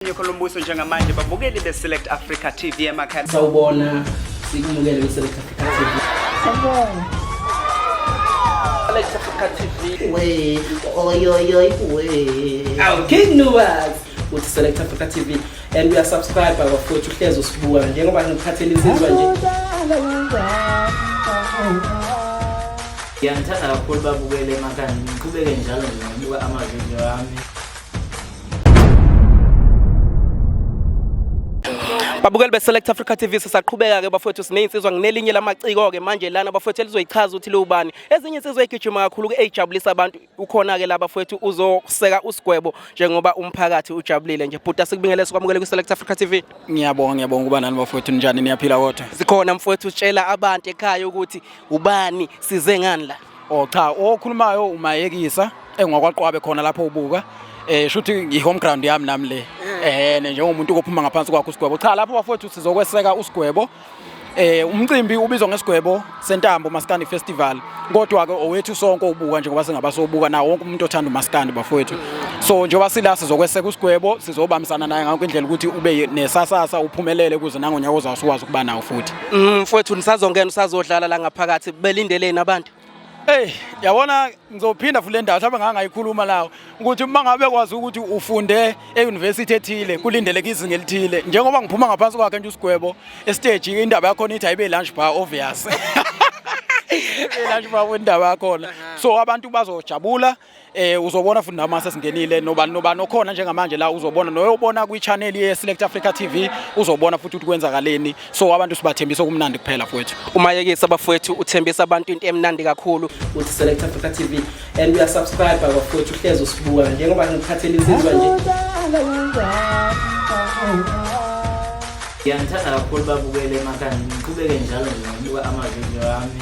Nyoko lombuso njengamanje babukeli beSelect Africa TV emakhaya. Sawubona sikumukele kwiSelect Africa TV. Sawubona. Select Africa TV. We, oyoyoy we. Awu King Nuwas. Uthi Select Africa TV and uya subscribe bafowethu uhlezi usibuka njengoba ngikhathele insizwa nje. Ngiyangithanda kakhulu babukele emakhaya ngiqhubeke njalo nje ngibuka ama-video ami. Babukeli beSelect Africa TV sisaqhubeka ke bafowethu sinezinsizwa nginelinye lamaciko ke manje lana bafowethu elizoyichaza ukuthi liwubani. Ezinye insizwa egijima kakhulu ke ejabulisa abantu ukhona ke la bafowethu uzoseka usigwebo njengoba umphakathi ujabulile nje. Bhuta sikubingelele sikwamukele kwiSelect Africa TV. Ngiyabonga ngiyabonga ukuba nani bafowethu njani niyaphila kodwa. Sikhona mfowethu utshela abantu ekhaya ukuthi ubani size ngani la. Oh cha, okhulumayo umayekisa engokwaqwabe khona lapho ubuka. Eh shuthi ngihome ground yami nami le. Eh njengomuntu kophuma ngaphansi kwakho usigwebo. Cha lapho bafowethu sizokweseka usigwebo. Eh umcimbi ubizwa ngesigwebo sentambo Maskandi Festival. Kodwa ke owethu sonke ubuka njengoba singabasobuka na wonke umuntu othanda uMaskandi bafowethu. So njengoba sila sizokweseka usigwebo sizobambisana naye ngakho indlela ukuthi ube nesasasa uphumelele kuze nangonyaka ozawusuwazi ukuba nawo futhi. Mm, mfowethu nisazongena usazodlala la ngaphakathi belindeleni abantu Hey, yabona ngizophinda futhi le ndawo mhlawumbe ngangayikhuluma lawo ukuthi uma ngabe kwazi ukuthi ufunde e-university ethile kulindeleke izinga elithile njengoba ngiphuma ngaphansi kwakhe nje usigwebo esiteji indaba yakhona ithi ayibe lunch bar obvious lunch bar indaba yakhona so abantu bazojabula eh uzobona futhi nama sesingenile nobani nobani okhona njengamanje la uzobona noyobona kwi channel ye Select Africa TV uzobona futhi ukuthi kwenzakaleni so abantu sibathembisa okumnandi kuphela futhi uma yekisa bafowethu uthembisa abantu into emnandi kakhulu uthi Select Africa TV and we are subscribe bafowethu uhlezi usibuka njengoba ngikhathele insizwa nje Ngiyangithanda kakhulu babukele emakhaya ngiqhubeke njalo ngibuka ama video ami